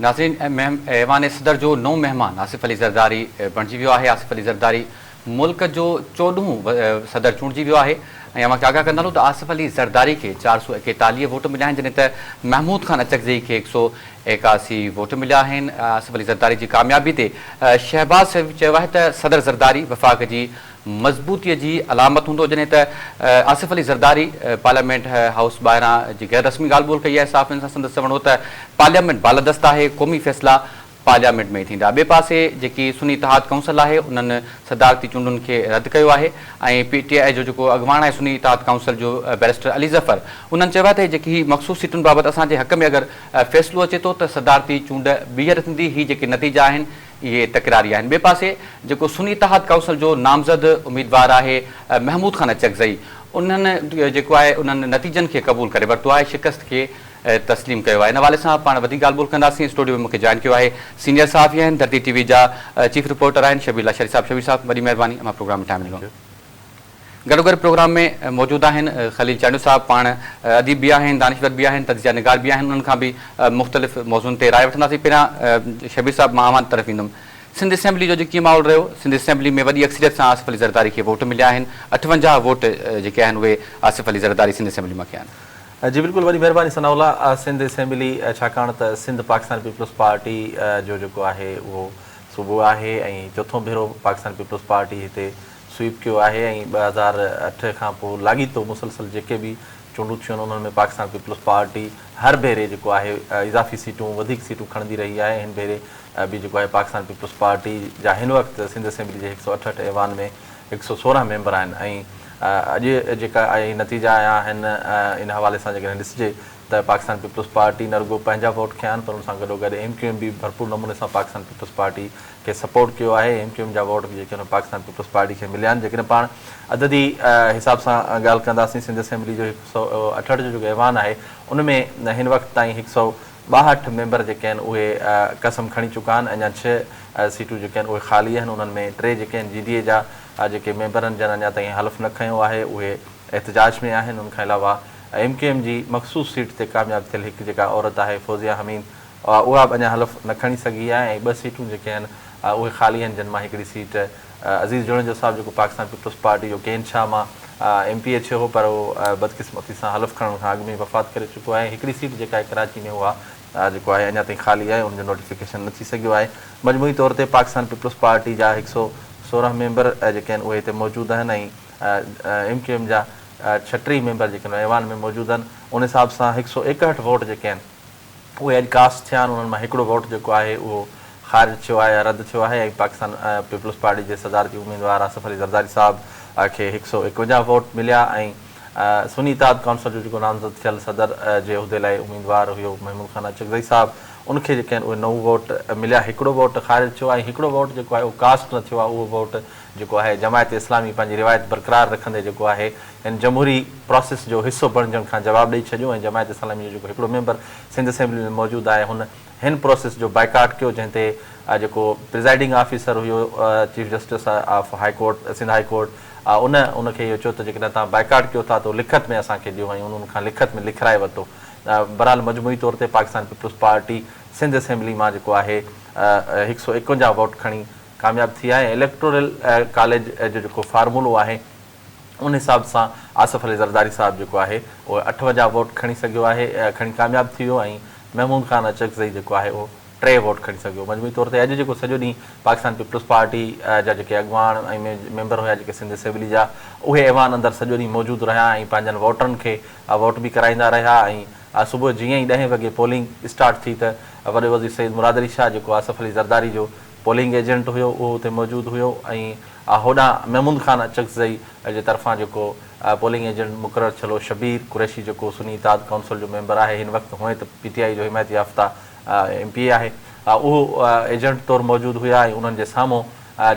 ناظرين ايوان صدر جو نئون مهمان آصف علي زرداري بڻجي ويو آهي، آصف علي زرداري ملڪ جو چوڏهون صدر چونڊجي ويو آهي ۽ اوهان کي آگاهه ڪندا هلون ته آصف علي زرداري کي چار سؤ ايڪيتاليهه ووٽ مليا آهن جڏهن ته محمود خان اچڪزئي کي هڪ سؤ ايڪاسي ووٽ مليا آهن آصف علي زرداري جي ڪاميابي تي شهباز شريف چيو آهي ته صدر زرداري وفاق جي مضبوطيء جي علامت هوندو جڏهن ته آصف علي زرداري پارليامينٽ هائوس ٻاهران جي غير رسمي ڳالهه ٻولهه ڪئي آهي صحافين سان سندس چوڻ هو ته پارليامينٽ بالادست آهي قومي فيصلا پارليامينٽ ۾ ئي ٿيندا ٻئي پاسي جيڪي سني اتحاد ڪائونسل آهي انهن صدارتي چونڊن کي رد ڪيو آهي ۽ پي ٽي آء جو جيڪو اڳواڻ آهي سني اتحاد ڪائونسل جو بئريسٽر علي ظفر انهن چيو آهي ته جيڪي هي مخصوص سيٽن بابت اسان جي حق ۾ اگر فيصلو اچي ٿو ته صدارتي چونڊ ٻيهر ٿيندي هي جيڪي نتيجا آهن اهي تڪراري آهن. ٻئي پاسي جيڪو سني اتحاد ڪائونسل جو نامزد اميدوار آهي محمود خان اچڪزئي انهن جيڪو آهي انهن نتيجن کي قبول ڪري ورتو آهي شڪست کي تسليم ڪيو آهي ان حوالي سان پاڻ وڌيڪ ڳالهه ٻولهه ڪنداسين اسٽوڊيو ۾ مون کي جوائن ڪيو آهي سينئر صحافي آهن ڌرتي ٽي وي جا چيف رپورٽر آهن شبير لاشاري صاحب شبير صاحب وڏي مهرباني امان پروگرام ۾ ٽائيم ڏنو. گڏوگڏ پروگرام ۾ موجود آهن خليل چانڊيو صاحب، پاڻ اديب به آهن، دانشور به آهن، تجزيه نگار به آهن، انهن کان به مختلف موضوعن تي راء وٺنداسين، پهريان شبير صاحب مان اوهان طرف ايندم، سنڌ اسيمبلي جو اڄ ڪيئن ماحول رهيو، سنڌ اسيمبلي ۾ وڏي اڪثريت سان آصف علي زرداري کي ووٽ مليا آهن، اٺونجاهه ووٽ جيڪي آهن اهي آصف علي زرداري سنڌ اسيمبلي مان کيا آهن. جي بلڪل وڏي مهرباني ثناء الله، سنڌ اسيمبلي ڇاڪاڻ ته سنڌ پاڪستان پيپلز پارٽي جو جيڪو آهي اهو صوبو آهي ۽ چوٿون ڀيرو پاڪستان پيپلز پارٽي هتي سوئيپ ڪيو آهي ۽ ٻه هزار اٺ کان پوء لاڳيتو مسلسل جيڪي به چونڊون ٿيون آهن انهن ۾ پاڪستان پيپلز پارٽي هر ڀيري جيڪو آهي اضافي سيٽون وڌيڪ سيٽون کڻندي رهي آهي ۽ هن ڀيري به جيڪو آهي پاڪستان پيپلز پارٽي جا هن وقت سنڌ اسيمبلي جي هڪ سؤ اٺهٺ ايوان ۾ هڪ سؤ سورهن ميمبر آهن ۽ اڄ جيڪا آهي نتيجا آيا آهن ان حوالي سان جيڪڏهن ڏسجي ته پاڪستان پيپلز پارٽي نه رڳو پنهنجا ووٽ کنيا آهن پر ان سان گڏوگڏ ايم ڪيو ايم به ڀرپور نموني سان پاڪستان پيپلز پارٽي کي سپورٽ ڪيو آهي، ايم ڪيو ايم جا ووٽ جيڪي آهن پاڪستان پيپلز پارٽي کي مليا آهن، جيڪڏهن پاڻ عددي حساب سان ڳالهه ڪنداسين سنڌ اسيمبلي جو هڪ سؤ اٺهٺ جو جيڪو ايوان آهي ان ۾ هن وقت تائين هڪ سؤ ٻاهٺ ميمبر جيڪي آهن اهي قسم کڻي چڪا آهن اڃا ڇهه سيٽون جيڪي آهن اهي خالي آهن انهن ۾ ٽي جيڪي آهن جي ڊي اي جا جيڪي ميمبرن جن اڃا تائين حلف نه کنيو آهي اهي احتجاج ۾ آهن ان کان علاوه ايم ڪيو ايم جي مخصوص سيٽ تي ڪامياب ٿيل هڪ جيڪا عورت آهي فوزيا حميد اها به اڃا حلف نه کڻي سگهي آهي ۽ ٻه سيٽون جيڪي آهن اهي خالي آهن جن مان هڪڙي سيٽ عزيز جوڻيجو صاحب جيڪو پاڪستان پيپلز پارٽي جو ڪين شاهه مان ايم پي اي ٿيو هو پر اهو بدقسمتي سان حلف کڻڻ کان اڳ ۾ ئي وفات ڪري چڪو آهي ۽ هڪڙي سيٽ جيڪا آهي ڪراچي ۾ اها جيڪو آهي اڃا تائين خالي آهي ان جو نوٽيفڪيشن نه ٿي سگهيو آهي مجموعي طور تي پاڪستان پيپلز پارٽي جا هڪ سؤ سورهن ميمبر جيڪي آهن اهي هتي موجود آهن ۽ ايم ڪيو ايم جا ڇهٽيهه ميمبر جيڪي آهن ايوان ۾ موجود آهن ان حساب سان هڪ سؤ ايڪهٺ ووٽ جيڪي آهن اهي اڄ ڪاسٽ ٿيا آهن، انهن مان هڪڙو ووٽ جيڪو آهي اهو خارج ٿيو آهي يا رد ٿيو آهي ۽ پاڪستان پيپلز پارٽي جي صدارتي اميدوار آصف علي زرداري صاحب کي هڪ سؤ اڪونجاهه ووٽ مليا ۽ سني اتحاد ڪائونسل جو جيڪو نامزد ٿيل صدر جي عهدي لاء اميدوار هيو محمود خان اچڪزئي صاحب ان کي جيڪي آهن اهي نو ووٽ مليا هڪڙو ووٽ خارج ٿيو آهي ۽ هڪڙو ووٽ جيڪو آهي اهو ڪاسٽ نه ٿيو آهي اهو ووٽ جيڪو آهي جماعت اسلامي پنهنجي روايت برقرار رکندي جيڪو آهي هن جمهوري پراسيس جو حصو بڻجڻ کان جواب ڏئي ڇڏيو ۽ جماعت اسلامي جو جيڪو هڪڙو ميمبر سنڌ اسيمبلي ۾ موجود آهي هن هن پراسيس جو بائيڪاٽ ڪيو جنهن تي جيڪو پريزائيڊنگ آفيسر هيو chief justice of high court Sindh high court ان ان کي اهو چيو ته جيڪڏهن توهان بائيڪاٽ ڪيو ٿا ته اهو لکت ۾ اسان کي ڏيو ۽ انهن ان کان لکت ۾ لکرائي ورتو برحال مجموعي طور تي Pakistan Peoples Party Sindh assembly مان جيڪو آهي هڪ سؤ ايڪونجاهه ووٽ کڻي ڪامياب ٿي آهي ۽ اليڪٽورل ڪاليج جو جيڪو فارمولو آهي ان حساب سان آصف علي زرداري صاحب جيڪو آهي اهو اٺونجاهه ووٽ کڻي سگهيو آهي کڻي ڪامياب ٿي ويو ۽ محمود خان اچڪزئي جيڪو آهي اهو ٽي ووٽ کڻي سگهيو مجموعي طور تي اڄ جيڪو سڄو ڏينهن پاڪستان پيپلز پارٽي جا جيڪي اڳواڻ ۽ ميمبر هيا جيڪي سنڌ اسيمبلي جا اهي ايوان اندر سڄو ڏينهن موجود رهيا ۽ پنهنجن ووٽرن کي ووٽ به ڪرائيندا رهيا ۽ صبح جيئن ئي ڏهين وڳي پولنگ اسٽارٽ ٿي ته وڏي وزير سيد مراد علي شاهه جيڪو آصف علي زرداري جو پولنگ ايجنٽ هيو اهو اتي موجود هيو ۽ هوڏانهن محمود خان اچڪزئي جي طرفان جيڪو پولنگ ايجنٽ مقرر ٿيل هو شبير قريشي جيڪو سني اتحاد ڪائونسل جو ميمبر آهي هن وقت هونئن ته پي ٽي آئي جو حمايت يافته ايم پي اي آهي اهو ايجنٽ طور موجود هيا ۽ انهن جي سامهون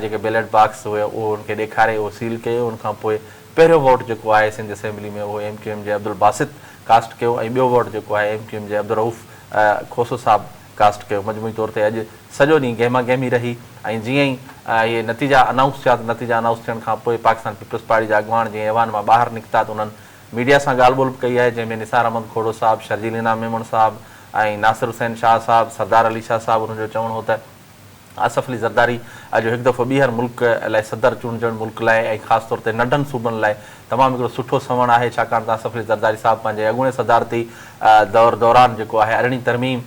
جيڪي بيلٽ باڪس هيا اهو ان کي ڏيکاري اهو سيل ڪيو ان کان پوء پهريون ووٽ جيڪو آهي سنڌ اسيمبلي ۾ اهو ايم ڪيو ايم جي عبدالباسط ڪاسٽ ڪيو ۽ ٻيو ووٽ جيڪو آهي ايم ڪيو ايم جي عبدالرئوف کوسو صاحب ڪاسٽ ڪيو مجموعي طور تي اڄ سڄو ڏينهن گهما گهمي رهي ۽ جيئن ئي اهي نتيجا انائونس ٿيا ته نتيجا انائونس ٿيڻ کان پوء پاڪستان پيپلز پارٽي جا اڳواڻ جيئن ايوان مان ٻاهر نڪتا ته انهن ميڊيا سان ڳالهه ٻولهه به ڪئي آهي جنهن ۾ نثار احمد کوڙو صاحب شرجيل انعام ميمڻ صاحب ۽ ناصر حسين شاهه صاحب سردار علي شاهه صاحب انهن جو چوڻ هو ته آصف علي زرداري اڄ هڪ دفعو ٻيهر ملڪ لاء صدر چونڊجڻ ملڪ لاء ۽ خاص طور تي ننڍن صوبن لاء تمام هڪڙو سٺو سنئوڻ آهي ڇاڪاڻ ته آصف علي زرداري صاحب پنهنجي اڳوڻي صدارتي دور دوران جيڪو آهي ارڙهين ترميم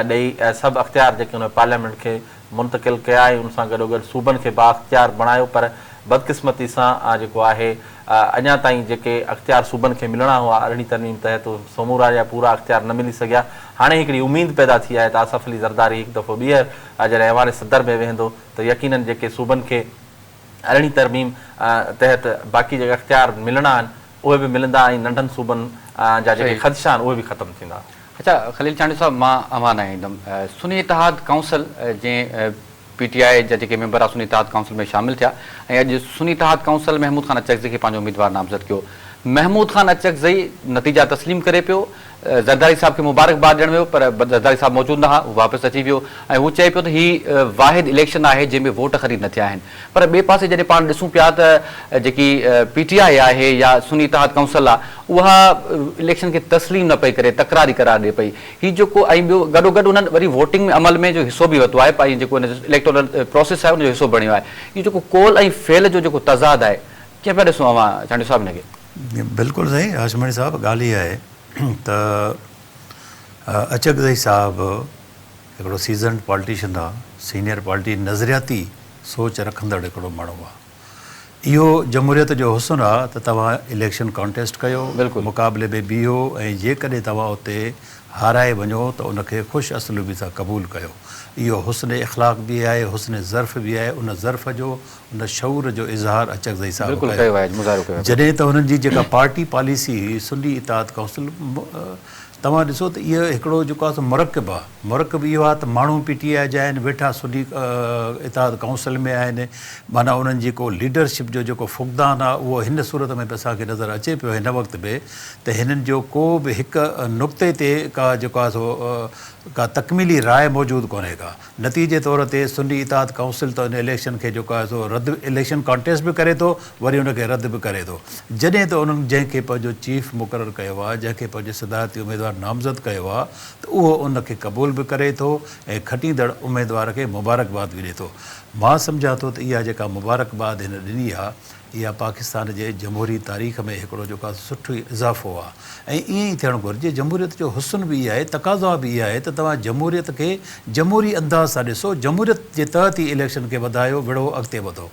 ڏئي سڀ اختيار جيڪي هن پارليامينٽ کي منتقل ڪيا ۽ ان سان گڏوگڏ صوبن کي بااختيار بڻايو پر بدقسمتي سان آ جيڪو آهي اڃا تائين جيڪي اختيار صوبن کي ملڻا هئا ارڙهين ترميم تحت اهي سمورا جا پورا اختيار نه ملي سگهيا هاڻي هڪڙي اميد پيدا ٿي آهي ته آصف علي زرداري هڪ دفعو ٻيهر جڏهن ايوان صدر ۾ ويهندو ته يقينن جيڪي صوبن کي ارڙهين ترميم تحت باقي جيڪي اختيار ملڻا آهن اهي به ملندا ۽ ننڍن صوبن جا جيڪي خدشا آهن اهي به ختم ٿيندا. اچا خليل چانڊيو صاحب مان اوهان ڏانهن ايندم سني اتحاد ڪائونسل جنهن پي ٽي آء جا جيڪي ميمبر سني اتحاد ڪائونسل ۾ شامل ٿيا ۽ اڄ سني اتحاد ڪائونسل محمود خان اچڪزئي کي پنهنجو اميدوار نامزد ڪيو. محمود خان اچڪزئي نتيجا تسليم ڪري پيو. زرداري صاحب کي مبارڪباد ڏيڻ ويو پر زرداري صاحب موجود نه ها، هو واپس اچي ويو ۽ هو چئي پيو ته هي واحد اليڪشن آهي جنهن ۾ ووٽ خريد نه ٿيا آهن پر ٻئي پاسي جڏهن پاڻ ڏسون پيا ته جيڪي پي ٽي آء آهي يا سني اتحاد ڪائونسل آهي اها اليڪشن کي تسليم نه پئي ڪري تڪراري قرار ڏئي پئي. هي جيڪو ۽ ٻيو گڏو گڏ انهن وري ووٽنگ ۾ عمل ۾ جو حصو به ورتو آهي ۽ جيڪو ان جو اليڪٽورل پروسيس آهي ان جو حصو بڻيو آهي اهو جيڪو قول ۽ فعل جو جيڪو تضاد آهي ڪيئن پيا ڏسون اوهان چانڊيو صاحب ان کي. بلڪل صحيح هاشمڻي صاحب ڳالهه اها آهي ته اچڪزئي صاحب هڪڙو سيزنڊ پالٽيشن آ سينئر پالٽي نظرياتي سوچ رکندڙ هڪڙو ماڻهو آ. اهو جمهوريت جو حسن آ ته توهان اليڪشن ڪانٽيسٽ ڪيو، مقابلي ۾ بيهو ۽ جيڪڏهن توهان اتي هارائي وڃو ته ان کي خوش اسلوبي سان قبول ڪيو. اهو حسن اخلاق به آهي، حسن ظرف به آهي، ان ظرف جو، ان شعور جو اظهار اچڪزئي صاحب ڪيو. جڏهن ته هنن جي جيڪا پارٽي پاليسي هئي، سني اطاعت ڪائونسل، توهان ڏسو ته اهو هڪڙو جيڪو آهي سو مرڪب آهي، مرڪب اهو آهي ته ماڻهو پي ٽي آء جا آهن، ويٺا سني اتحاد ڪائونسل ۾ آهن، معنيٰ انهن جي ڪو ليڊرشپ جو جيڪو فقدان آهي اهو هن صورت ۾ به اسان کي نظر اچي پيو هن وقت به ته هنن جو ڪو به هڪ نقطي تي ڪا جيڪو آهي سو ڪا تڪميلي راء موجود ڪونهي ڪا. نتيجي طور تي سني اتحاد ڪائونسل ته ان اليڪشن کي جيڪو آهي سو رد اليڪشن ڪانٽيسٽ به ڪري ٿو وري ان کي رد به ڪري ٿو جڏهن ته انهن جنهن کي پنهنجو چيف مقرر ڪيو آهي جنهن کي پنهنجو صدارتي اميدوار نامزد ڪيو آهي ته اهو ان کي قبول به ڪري ٿو ۽ کٽيندڙ اميدوار کي مبارڪباد به ڏي ٿو مان سمجهان ٿو ته اها جيڪا مبارڪباد هن ڏني آهي اها پاڪستان جي جمهوري تاريخ ۾ هڪڙو جيڪا سٺو اضافو آ ۽ ائين ئي ٿيڻ گهرجي. جمهوريت جو حسن به اهي آهي، تقاضا به اهي آهي ته توهان جمهوريت کي جمهوري انداز سان ڏسو، جمهوريت جي تحت ئي اليڪشن کي وڌايو، وڙهو، اڳتي وڌو.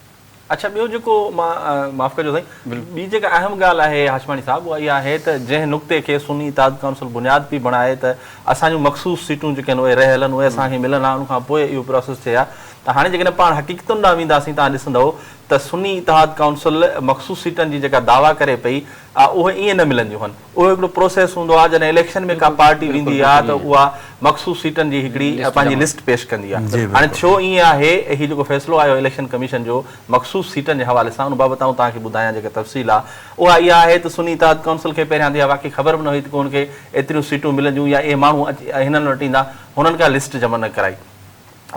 اڇا ٻيو جيڪو مان معاف ڪجو سائين ٻي جيڪا اهم ڳالهه آهي هاشماڻي صاحب اها اها آهي ته جنهن نقطي کي سني اتحاد ڪائونسل بنياد پئي بڻائي ته اسان جون مخصوص سيٽون جيڪي آهن اهي رهيل آهن اهي اسان کي ملن ها ان کان پوء اهو پراسيس ٿئي ها ته هاڻي جيڪڏهن پاڻ حقيقتن ڏانهن وينداسين تان ڏسندئو ته سني اتحاد ڪائونسل مخصوص سيٽن جي جيڪا دعويٰ ڪري پئي آ اهي ائين نه ملنديون هن اهو هڪڙو پروسيس هوندو آ جڏهن اليڪشن ۾ ڪا پارٽي ويندي آ ته اها مخصوص سيٽن جي هڪڙي پنهنجي لسٽ پيش ڪندي آ هاڻي ٿيو ائين آهي هي جيڪو فيصلو آيو اليڪشن ڪميشن جو مخصوص سيٽن جي حوالي سان ان بابت آئون توهان کي ٻڌايان جيڪا تفصيل آ اها اها آهي ته سني اتحاد ڪائونسل کي پهريان هنڌ اها واقعي خبر به نه هئي ته ڪو هن کي ايتريون سيٽون ملنديون يا اهي ماڻهو اهي هنن وٽ ايندا هنن ڪا لسٽ جمع نه ڪرائي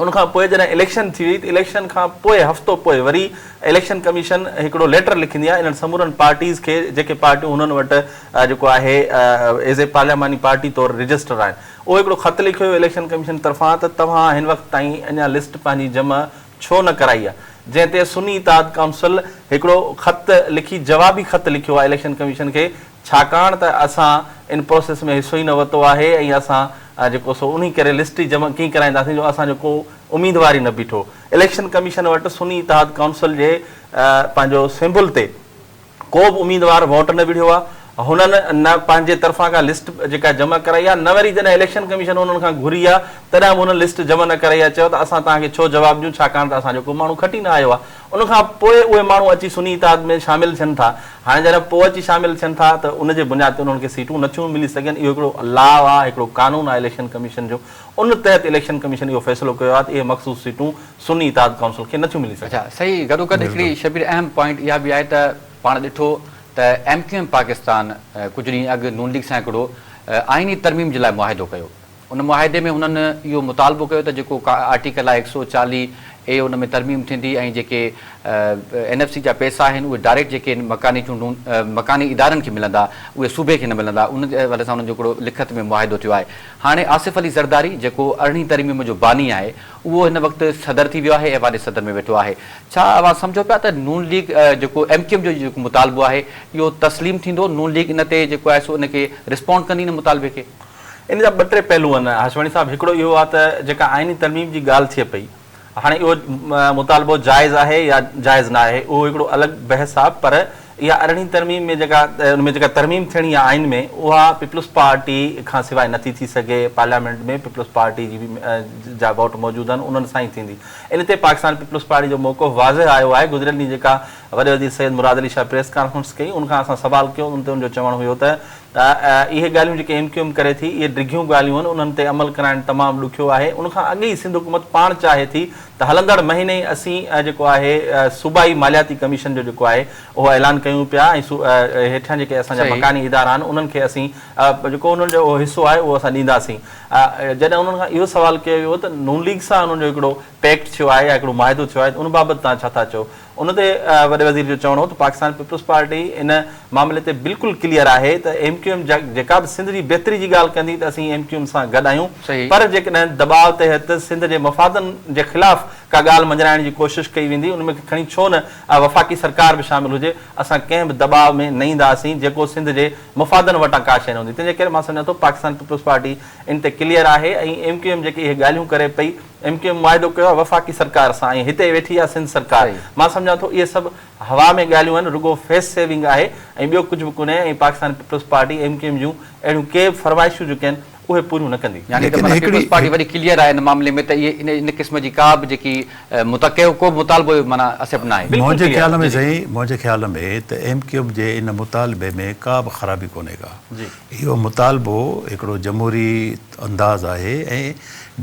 ان کان پوء جڏهن اليڪشن ٿي وئي ته اليڪشن کان پوء هفتو پوء وري اليڪشن ڪميشن هڪڙو ليٽر لکندي آهي انهن سمورن پارٽيز کي جيڪي پارٽيون هنن وٽ جيڪو آهي ايز اي پارلياماني پارٽي طور رجسٽر آهن اهو هڪڙو خط لکيو ويو اليڪشن ڪميشن طرفان ته توهان هن وقت تائين اڃا لسٽ پنهنجي جمع ڇو نه ڪرائي آهي جنهن تي سني اتحاد ڪائونسل هڪڙو خط لکي جوابي خط لکيو آهي اليڪشن ڪميشن کي ڇاڪاڻ ته اسان ان پروسيس ۾ حصو ئي نه ورتو آهي ۽ اسان جيڪو سو انهي ڪري لسٽ جمع ڪيئن ڪرائينداسين جو اسان جو ڪو اميدوار ئي نه بيٺو اليڪشن ڪميشن وٽ سني اتحاد ڪائونسل جي پنهنجو سيمبل تي ڪو به اميدوار ووٽ نه وڙهيو آهي هنن نه پنهنجي طرفان ڪا لسٽ جيڪا جمع ڪرائي آهي نه وري جڏهن اليڪشن ڪميشن انهن کان گهري آهي تڏهن به هنن لسٽ جمع نه ڪرائي آهي چيو ته اسان توهان کي ڇو جواب ڏيون ڇاڪاڻ ته اسان جو ڪو ماڻهو کٽي نه آيو آهي ان کان پوء اهي ماڻهو اچي سني اتحاد ۾ شامل ٿين ٿا. هاڻي جڏهن پوء اچي شامل ٿين ٿا ته ان جي بنياد تي انهن کي سيٽون نه ٿيون ملي سگهن. اهو هڪڙو لا آهي، هڪڙو قانون آهي اليڪشن ڪميشن جو. ان تحت اليڪشن ڪميشن اهو فيصلو ڪيو آهي ته اهي مخصوص سيٽون سني اتحاد ڪائونسل کي نه ٿيون ملي سگهن. اچا صحيح گڏوگڏ هڪڙي شبير اهم پوائنٽ اها به آهي ته پاڻ ڏٺو ته ايم ڪيو ايم پاڪستان ڪجهه ڏينهن اڳ نون ليگ سان هڪڙو آئيني ترميم جي لاء معاهدو ڪيو. ان معاهدي ۾ هنن اهو مطالبو ڪيو ته جيڪو آرٽيڪل آهي هڪ سؤ چاليهه اي ان ۾ ترميم ٿيندي ۽ جيڪي اين ايف سي جا پئسا آهن اهي ڊائريڪٽ جيڪي مڪاني چونڊون مڪاني ادارن کي ملندا اهي صوبي کي نه ملندا ان حوالي سان انهن جو هڪڙو لکت ۾ معاهدو ٿيو آهي هاڻي آصف علي زرداري جيڪو ارڙهين ترميم جو باني آهي اهو هن وقت صدر ٿي ويو آهي ايوان صدر ۾ ويٺو آهي ڇا اوهان سمجهو پيا ته نون ليگ جيڪو ايم ڪيو ايم جو جيڪو مطالبو آهي اهو تسليم ٿيندو نون ليگ ان تي جيڪو آهي سو ان کي رسپونڊ ڪندي ان مطالبي کي. ان جا ٻه ٽي پهلو آهن هاشمڻي صاحب، هڪڙو اهو آهي ته جيڪا آئيني ترميم جي ڳالهه ٿئي پئي، هاڻي اهو مطالبو جائز آهي يا جائز نه آهي اهو هڪڙو الڳ بحث آهي پر اها ارڙهين ترميم ۾ جيڪا ان ۾ جيڪا ترميم ٿيڻي آهي آئين ۾ اها پيپلز پارٽي کان سواء نٿي ٿي سگهي، پارليامينٽ ۾ پيپلز پارٽي جي جا ووٽ موجود آهن انهن سان ئي ٿيندي، ان تي پاڪستان پيپلز پارٽي جو موقف واضح آيو آهي، گذريل ڏينهن جيڪا وڏي وزير سيد مراد علي شاهه پريس ڪانفرنس ڪئي ان کان اسان سوال ڪيو ان تي ان جو چوڻ هيو ته ته اهي ڳالهيون جيڪي ايم ڪيو ايم ڪري ٿي اهي ڊگهيون ڳالهيون آهن انهن تي عمل ڪرائڻ تمام ڏکيو آهي ان کان اڳ ئي سنڌ حڪومت پاڻ چاهي ٿي ته هلندڙ مهيني اسين جيڪو آهي صوبائي مالياتي ڪميشن جو جيڪو آهي اهو اعلان ڪيون پيا ۽ هيٺيان جيڪي اسان جا مڪاني ادارا آهن انهن کي اسين جيڪو انهن جو اهو حصو آهي اهو اسان ڏينداسين جڏهن انهن کان اهو سوال ڪيو ويو ته نون ليگ سان انهن جو هڪڙو پيڪٽ ٿيو آهي يا هڪڙو معاهدو ٿيو آهي ته ان بابت توهان ڇا ٿا چئو ان تي وڏي وزير جو چوڻ هو ته پاڪستان پيپلز پارٽي ان معاملي تي بلڪل ڪليئر آهي ته ايم ڪيو ايم جيڪا به سنڌ جي بهتري جي ڳالهه ڪندي ته اسين ايم ڪيو ايم سان گڏ آهيون پر جيڪڏهن دٻاء تحت سنڌ جي مفادن جي خلاف ڪا ڳالهه مڃرائڻ جي ڪوشش ڪئي ويندي ان ۾ کڻي ڇو نه وفاقي سرڪار به شامل هجي اسان ڪنهن به دٻاء ۾ نه اينداسين جيڪو سنڌ جي مفادن وٽان ڪا شيء نه هوندي تنهنجي ڪري مان سمجهان ٿو پاڪستان پيپلز پارٽي ان تي ڪليئر آهي ۽ ايم ڪيو ايم جيڪي اهي ڳالهيون ڪري پئي ايم ڪيو ايم معاهدو ڪيو آهي وفاقي سرڪار سان ۽ هتي ويٺي آهي سنڌ سرڪار مان سمجهان ٿو اهي سڀ هوا ۾ ڳالهيون آهن رڳو فيس سيونگ آهي ۽ ٻيو ڪجهه به ڪونهي ۽ Pakistan Peoples Party M Q M جون اهڙيون ڪي به فرمائشون جيڪي آهن اهي پوريون نه ڪندي. يعني ته معنيٰ پيپلز پارٽي وڏي ڪليئر آهي ان معاملي ۾ ته اهي ان قسم جي ڪا به جيڪي متقيو ڪو به مطالبو معنيٰ اسيپٽ نه آهي. منهنجي خيال ۾ سائين منهنجي خيال ۾ ته ايم ڪيو ايم جي ان مطالبي ۾ ڪا به خرابي ڪونهي ڪا. اهو مطالبو هڪڙو جمهوري انداز آهي ۽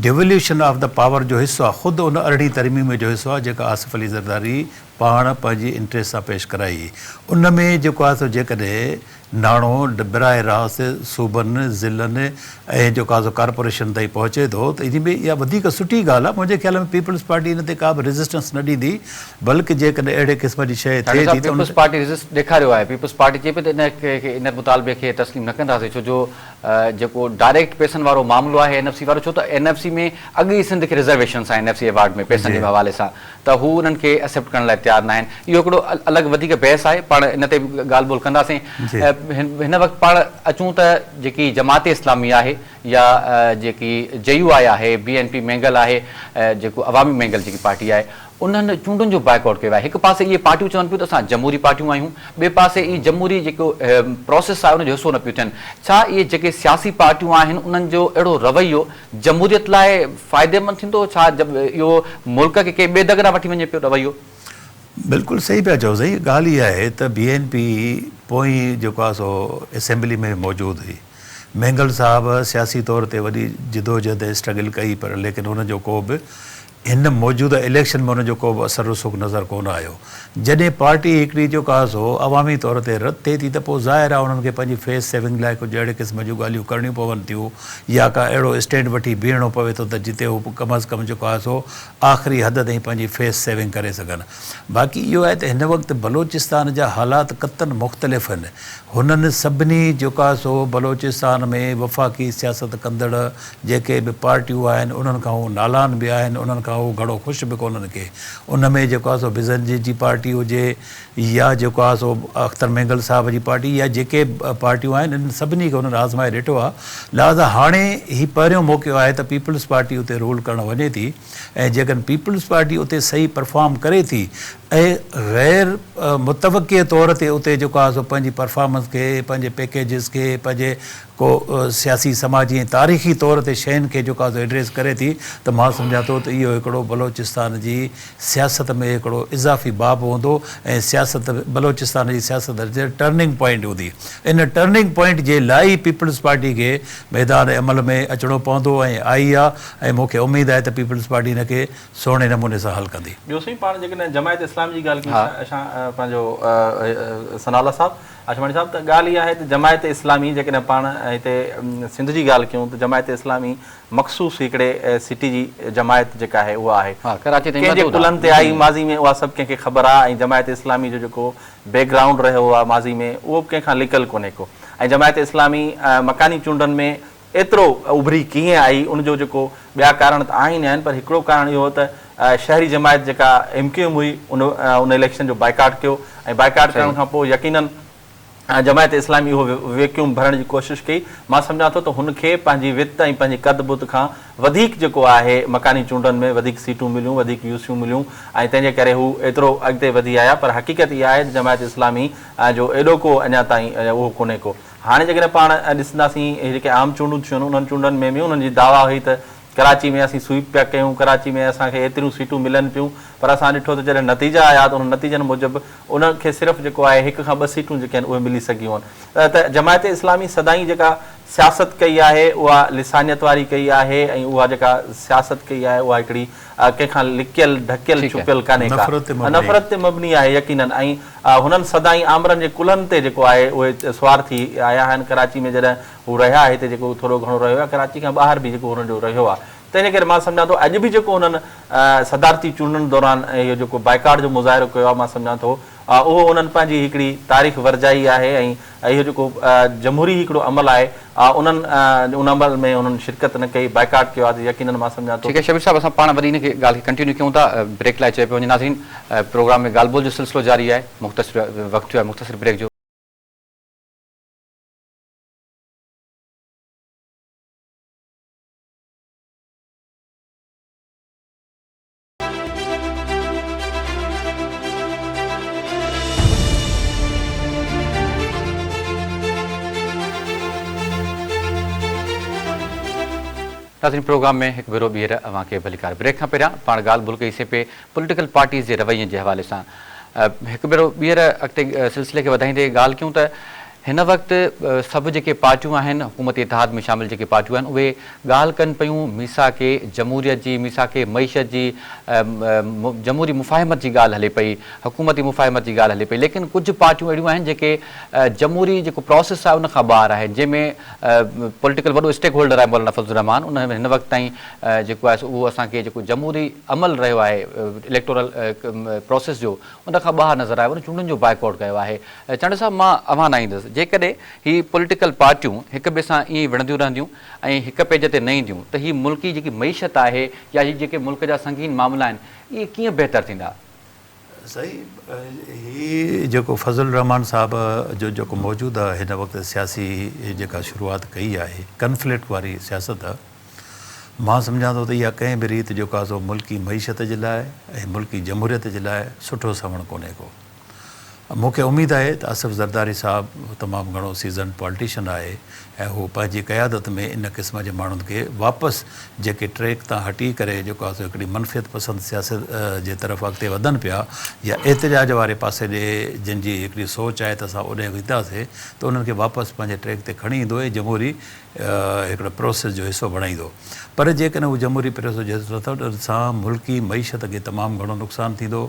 Devolution of the Power جو حصو آهي، خود ان ارڙهين ترميم جو حصو آهي جيڪا آصف علي زرداري پاڻ پنهنجي انٽريسٽ سان پيش ڪرائي. ان ۾ جيڪو آهي سو جيڪڏهن ناڻو براه راست صوبن، ضلعن ۽ جيڪو آهي سو ڪارپوريشن تائين پهچي ٿو ته ان ۾ اها وڌيڪ سٺي ڳالهه آهي. منهنجي خيال ۾ پيپلز پارٽي ان تي ڪا به ريزسٽنس نه ڏيندي. بلڪ جيڪڏهن اهڙي قسم جي شيء ٿئي ٿي ته ان تي ريزسٽ ڏيکاريو آهي پيپلز پارٽي چئي پئي ته ان مطالبي کي تسليم نه ڪنداسين ڇو جو جيڪو ڊائريڪٽ پيسن وارو معاملو آهي اين ايف سي وارو ڇو ته اين ايف سي ۾ اڳ ئي سنڌ کي ريزرويشنس آهن اين ايف سي ايوارڊ ۾ پيسن جي حوالي سان ته هو انهن کي ايسيپٽ ڪرڻ لاء تيار ناهن اهو هڪڙو الڳ وڌيڪ بحث آهي پاڻ ان تي به ڳالهه ٻولهه ڪنداسين هن وقت پاڻ اچون ته جيڪي جماعت اسلامي آهي يا جيڪي جي يو آء آهي بي اين پي مينگل آهي جيڪو عوامي مينگل جيڪي پارٽي آهي انهن چونڊن جو بائيڪاٽ ڪيو آهي، هڪ پاسي اهي پارٽيون چون پيون ته اسان جمهوري پارٽيون آهيون، ٻئي پاسي اهي جمهوري جيڪو پراسيس آهي ان جو حصو نه پيون ٿين، ڇا اهي جيڪي سياسي پارٽيون آهن انهن جو اهڙو رويو جمهوريت لاء فائديمند ٿيندو، ڇا اهو ملڪ کي ڪنهن ٻئي دڳ ڏانهن وٺي وڃي پيو رويو؟ بلڪل صحيح پيا چئو سائين ڳالهه اها آهي ته بي اين پي پوئين جيڪو آهي سو اسيمبلي ۾ به موجود هئي مينگل صاحب سياسي طور تي وڏي جدوجهد ۽ اسٽرگل ڪئي پر ليڪن ان جو ڪو به هن موجوده اليڪشن ۾ ان جو ڪو به اثر رسوخ نظر ڪونه آيو. جڏهن پارٽي هڪڙي جو ڪاز هو عوامي طور تي رد ٿئي ٿي ته پوء ظاهر آهي انهن کي پنهنجي فيس سيونگ لاء ڪجهه اهڙي قسم جون ڳالهيون ڪرڻيون پون ٿيون يا ڪا اهڙو اسٽينڊ وٺي بيهڻو پوي ٿو ته جتي هو ڪم از ڪم جو ڪاز هو آخري حد تائين پنهنجي فيس سيونگ ڪري سگهن. باقي اهو آهي ته هن وقت بلوچستان جا حالات قطعن مختلف آهن. هنن سڀني جوڪاز هو بلوچستان ۾ وفاقي سياست ڪندڙ جيڪي به پارٽيون آهن انهن کان هو نالان به آهن انهن کان هو گهڻو خوش به ڪونهن ڪي ان ۾ جيڪو آهي سو بزنجي جي پارٽي هجي يا جيڪو آهي سو اختر مينگل صاحب جي پارٽي يا جيڪي به پارٽيون آهن انهن سڀني کي هنن آزمائي ڏٺو آهي لهذا هاڻي هي پهريون موقعو آهي ته پيپلز پارٽي اتي رول ڪرڻ وڃي ٿي ۽ جيڪڏهن پيپلز پارٽي اتي صحيح پرفارم ڪري ٿي ۽ غير متوقع طور تي اتي جيڪو آهي سو پنهنجي پرفارمنس کي پنهنجي پيڪيجز کي پنهنجي ڪو سياسي، سماجي ۽ تاريخي طور تي شين کي جيڪو آزو ايڊريس ڪري ٿي ته مان سمجهان ٿو ته اهو هڪڙو بلوچستان جي سياست ۾ هڪڙو اضافي باب هوندو ۽ سياست بلوچستان جي سياست جي ٽرننگ پوائنٽ هوندي ان ٽرننگ پوائنٽ جي لاء ئي پيپلز پارٽي کي ميدان عمل ۾ اچڻو پوندو ۽ آئي آ ۽ مون کي اميد آهي ته پيپلز پارٽي ان کي سهڻي نموني سان حل ڪندي. ٻيو سائين پاڻ جيڪڏهن جماعت اسلامي جي ڳالهه ڪئي ته اشان پنهنجو ثناء الله صاحب آشواڻي صاحب ته ڳالهه اها آهي ته جماعت اسلامي جيڪڏهن پاڻ هتي سنڌ جي ڳالهه ڪيون ته جماعت اسلامي مخصوص هڪڙي سٽي جي جماعت جيڪا آهي اها آهي ڪنهن جي ڪلهن تي آئي ماضي ۾ اها سڀ ڪنهن کي خبر آهي ۽ جماعت اسلامي جو جيڪو بيڪ گرائونڊ رهيو آهي ماضي ۾ اهو به ڪنهن کان لڪل ڪونهي ڪو ۽ جماعت اسلامي مڪاني چونڊن ۾ ايترو اڀري ڪيئن آئي ان جو جيڪو ٻيا ڪارڻ ته آهن ئي آهن پر هڪڙو ڪارڻ اهو هو ته شهري جماعت جيڪا ايم ڪيو ايم هئي ان ان اليڪشن جو بائيڪاٽ ڪيو ۽ بائيڪاٽ ڪرڻ صحيح. کان پوء يقينن جماعت اسلامي اهو ويڪيوم ڀرڻ جي ڪوشش ڪئي مان سمجهان ٿو ته هن کي پنهنجي وت ۽ پنهنجي قد بت کان وڌيڪ جيڪو آهي مڪاني چونڊن ۾ وڌيڪ سيٽون مليون وڌيڪ يو سيون مليون ۽ تنهن جي ڪري هو ايترو اڳتي وڌي آيا پر حقيقت اها آهي ته جماعت اسلامي جو ايڏوڪو اڃا تائين اهو ڪونهي ڪو هاڻي جيڪڏهن پاڻ ڏسنداسين هي جيڪي عام چونڊون ٿيون انهن چونڊن ۾ به انهن جي دعويٰ هئي ته ڪراچي ۾ اسين سوئيپ پيا ڪيون، ڪراچي ۾ اسان کي ايتريون سيٽون ملن پيون پر اسان ڏٺو ته جڏهن نتيجا آيا ته انهن نتيجن موجب انهن کي صرف جيڪو آهي هڪ کان ٻه سيٽون جيڪي آهن اهي ملي سگهيون آهن ته جماعت اسلامي سدائين جيڪا سياست ڪئي آهي اها لسانيت واري ڪئي آهي ۽ اها جيڪا سياست ڪئي آهي اها هڪڙي اها ڪنهن کان لڪيل، ڍڪيل، ڇپيل ڪانهي ڪا. اها نفرت تي مبني آهي يقيناً ۽ هنن سدائين آمرن جي ڪلهن تي جيڪو آهي اهي سوار ٿي آيا آهن ڪراچي ۾ جڏهن هو رهيا هتي جيڪو ٿورو گهڻو رهيو يا ڪراچي کان ٻاهر به جيڪو هنن جو رهيو آهي تنهن جي ڪري مان سمجهان ٿو اڄ به جيڪو هنن صدارتي چونڊن دوران اهو جيڪو بائيڪاٽ جو مظاهرو ڪيو آهي مان سمجهان ٿو اهو هنن پنهنجي هڪڙي تاريخ ورجائي آهي ۽ اهو جيڪو جمهوري هڪڙو عمل آهي انهن ان عمل ۾ انهن شرڪت نه ڪئي بائيڪاٽ ڪيو آهي ته يقينن مان سمجهان ٿو ٺيڪ آهي شبير صاحب اسان پاڻ وري ان کي ڳالهه کي ڪنٽينيو ڪيون ٿا بريڪ لاء چئي پيو وڃي ناظرين پروگرام ۾ ڳالهه ٻولهه جو سلسلو جاري آهي مختصر وقت ٿيو آهي مختصر بريڪ جو. ناظرين پروگرام ۾ هڪ ڀيرو ٻيهر اوهان کي ڀليڪار. بريڪ کان پهريان پاڻ ڳالهه ٻولهه ڪئي سي پي پوليٽيڪل پارٽيز جي روين جي حوالي سان هڪ ڀيرو ٻيهر اڳتي سلسلي کي وڌائيندي ڳالهه ڪيون ته هن وقت سڀ جيڪي پارٽيون آهن، حڪومت اتحاد ۾ شامل جيڪي پارٽيون آهن اهي ڳالهه ڪن پيون ميثاق جمهوريت جي، ميثاق معيشت جي، جمهوري مفاهمت جي ڳالهه هلي پئي، حڪومتي مفاهمت جي ڳالهه هلي پئي ليڪن ڪجهه پارٽيون اهڙيون آهن جيڪي جمهوري جيڪو پراسيس آهي ان کان ٻاهر آهن جنهن ۾ پوليٽيڪل وڏو اسٽيڪ هولڊر آهي مولانا فضل الرحمان ان هن وقت تائين جيڪو آهي اهو اسان کي جيڪو جمهوري عمل رهيو آهي اليڪٽورل پراسيس جو ان کان ٻاهر نظر آيو، ان چونڊن جو بائيڪاٽ ڪيو آهي. چانڊيو صاحب مان اوهان ڏانهن ايندس، جيڪڏهن هي پوليٽيڪل پارٽيون هڪ ٻئي سان ائين ئي وڙهنديون رهنديون ۽ هڪ پيج تي نه اينديون ته هي ملڪ جي جيڪي معيشت آهي يا هي جيڪي ملڪ جا سنگين معاملا آهن اهي ڪيئن بهتر ٿيندا؟ سائين هي جيڪو فضل الرحمان صاحب جو جيڪو موجوده هن وقت سياسي جيڪا شروعات ڪئي آهي ڪنفلڪٽ واري سياست مان سمجهان ٿو ته اها ڪنهن به ريت جو ڪاسو ملڪي معيشت جي لاء ۽ ملڪي جمهوريت جي لاء سٺو سنئوڻ ڪونهي ڪو. مون کي اميد آهي ته اصف زرداري صاحب تمام گهڻو سيزنڊ پالٽيشن آهي ۽ هو پنهنجي قيادت ۾ ان قسم جي ماڻهن کي واپس جيڪي ٽريڪ تان هٽي ڪري جو ڪاسو هڪڙي منفيت پسند سياست جي طرف اڳتي وڌن پيا يا احتجاج واري پاسي ڏي جن جي هڪڙي سوچ آهي ته اسان اوڏي وينداسي ته انهن کي واپس پنهنجي ٽريڪ تي کڻي ايندو ۽ جمهوري هڪڙي پروسيس جو حصو بڻائيندو پر جيڪڏهن هو جمهوري پروسيس جو حصو نه ٿيو ته سان ملڪي معيشت کي تمام گهڻو نقصان ٿيندو،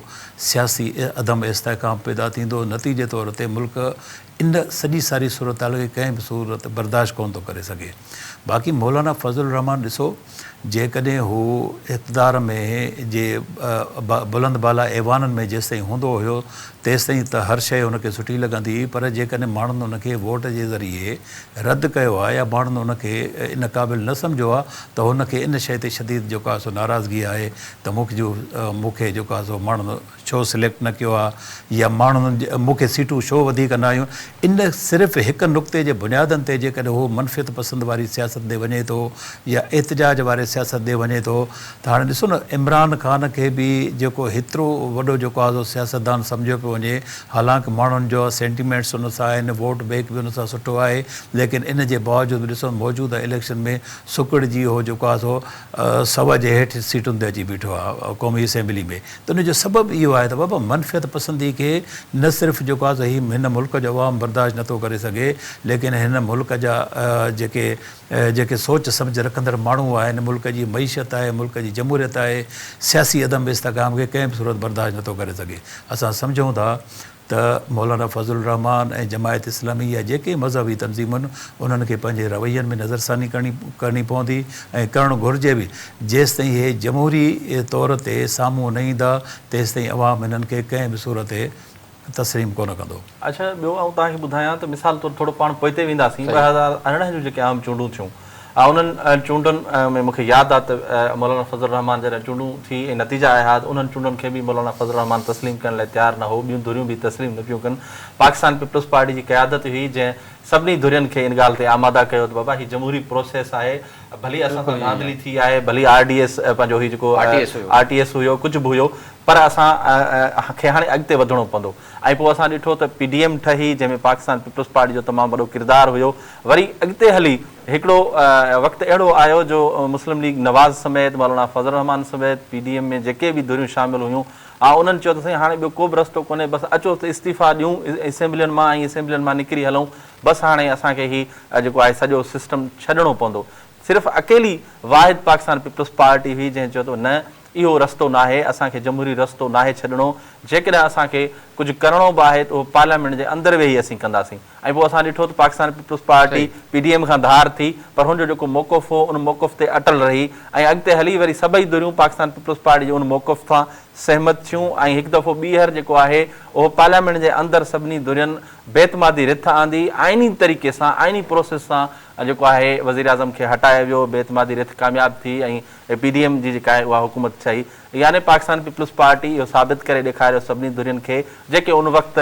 سياسي عدم استحڪام پيدا ٿيندو، نتيجي طور تي ملڪ ان سڄي ساري صورتحال کي ڪنهن به صورت برداشت ڪونه ٿو ڪري سگهي. باقي مولانا فضل الرحمان ڏسو! جيڪڏهن هو اقتدار ۾ جي بلند بالا ايوانن ۾ جيستائين هوندو هيو تيستائين ته هر شيء هن کي سٺي لڳندي هئي پر جيڪڏهن ماڻهن هن کي ووٽ جي ذريعي رد ڪيو ها يا ماڻهن هن کي ان قابل نه سمجهيو ها ته هن کي ان شيء تي شديد جيڪا سو ناراضگي آهي ته مون کي جيڪا سو ماڻهن ڇو سليڪٽ نه ڪيو آ يا ماڻهن مون کي سيٽون ڇو وڌيڪ نه آيون ان صرف هڪ نقطي جي بنيادن تي جيڪڏهن هو منفيت پسند واري سياست ڏي وڃي ٿو يا احتجاج واري سياست ڏي وڃي ٿو ته هاڻي ڏسو نه عمران خان کي به جيڪو هيترو وڏو جيڪو آزو سياستدان سمجهيو پيو وڃي حالانڪ ماڻهن جو سينٽيمينٽس ان سان آهن ووٽ بيڪ به ان سان سٺو آهي ليڪن ان جي باوجود به ڏسو موجوده اليڪشن ۾ سڪڙجي هو جيڪو آزو سو جي هيٺ سيٽن تي اچي بيٺو آ قومي اسيمبلي ۾ ته ان جو سبب اهو آهي ته بابا منفيت پسندي کي نه صرف جيڪو آهي سو هي هن ملڪ جو عوام برداشت نه ٿو ڪري سگهي ليڪن هن ملڪ جا جيڪي جيڪي سوچ سمجهه رکندڙ ماڻهو آهن، ملڪ جي معيشت آهي، ملڪ جي جمهوريت آهي، سياسي عدم استحڪام کي ڪنهن به صورت برداشت نه ٿو ڪري سگهي. اسان سمجهون ٿا ته مولانا فضل الرحمان ۽ جماعت اسلامي يا جيڪي مذهبي تنظيمون انهن کي پنهنجي روين ۾ نظرثاني ڪرڻي پوندي ۽ ڪرڻ گهرجي به جيستائين اهي جمهوري طور تي سامهون نه ايندا تيستائين عوام انهن کي ڪنهن به صورت تسليم ڪونه ڪندو. اڇا ٻيو آئون توهان کي ٻڌايان ته مثال طور ٿورو پاڻ پوئتي وينداسين ٻه هزار ارڙهن جون جيڪي عام چونڊون ٿيون انهن چونڊن ۾ مون کي ياد آ ته مولانا فضل الرحمان جڏهن چونڊون ٿي ۽ نتيجا آيا ها ته انهن چونڊن کي به مولانا فضل الرحمان تسليم ڪرڻ لاء تيار نه هو ٻيون ڌريون به تسليم نه پيون ڪن پاڪستان پيپلز پارٽي جي قيادت ئي هئي جنهن سڀني ڌرين کي ان ڳالهه تي آماده ڪيو ته بابا هي جمهوري پروسيس آهي ڀلي اسان سان ڌانڌلي ٿي آهي ڀلي آر ڊي ايس پنهنجو هي جيڪو آر ٽي ايس هيو ڪجهه به هيو پر اسان کي هاڻي اڳتي وڌڻو پوندو ۽ پوء اسان ڏٺو ته پي ڊي ايم ٺهي جنهن ۾ پاڪستان پيپلز پارٽي جو تمام وڏو ڪردار هيو وري اڳتي هلي هڪڙو وقت اهڙو آيو جو مسلم ليگ نواز سميت مولانا فضل الرحمان سميت پي ڊي ايم ۾ جيڪي به ڌريون شامل هيون آئون انهن چيو ته سائين هاڻي ٻيو ڪوبه رستو ڪونهي بس اچو ته استعيفا ڏيون اسيمبلين مان ۽ اسيمبلين مان نڪري هلون بس هاڻي اسان کي هي جيڪو آهي سڄو سسٽم ڇڏڻو پوندو صرف اڪيلي واحد پاڪستان پيپلز پارٽي هئي جنهن چيو ته نه اهو رستو ناهي، اسان کي جمهوري رستو ناهي ڇڏڻو، جيڪڏهن اسان کي ڪجهه ڪرڻو به آهي ته اهو پارليامينٽ جي اندر ويهي اسين ڪنداسين ۽ پوء اسان ڏٺو ته Pakistan Peoples Party P D M کان ڌار ٿي پر هن جو جيڪو موقف هو ان موقف تي اٽل رهي ۽ اڳتي هلي وري سڀئي ڌريون پاڪستان پيپلز پارٽي جي ان موقف سان سهمت ٿيون ۽ هڪ دفعو ٻيهر جيڪو آهي اهو پارليامينٽ جي اندر سڀني ڌرين بي اعتمادي رٿ آندي آئيني طريقي سان آئيني پروسيس سان جيڪو آهي وزيراعظم کي هٽايو ويو بي اعتمادي رٿ ڪامياب ٿي ۽ اي پي ڊي ايم جي جيڪا آهي اها حڪومت ڇهي يعني پاڪستان پيپلز پارٽي اهو ثابت ڪري ڏيکاريو سڀني ڌرين کي جيڪي ان وقت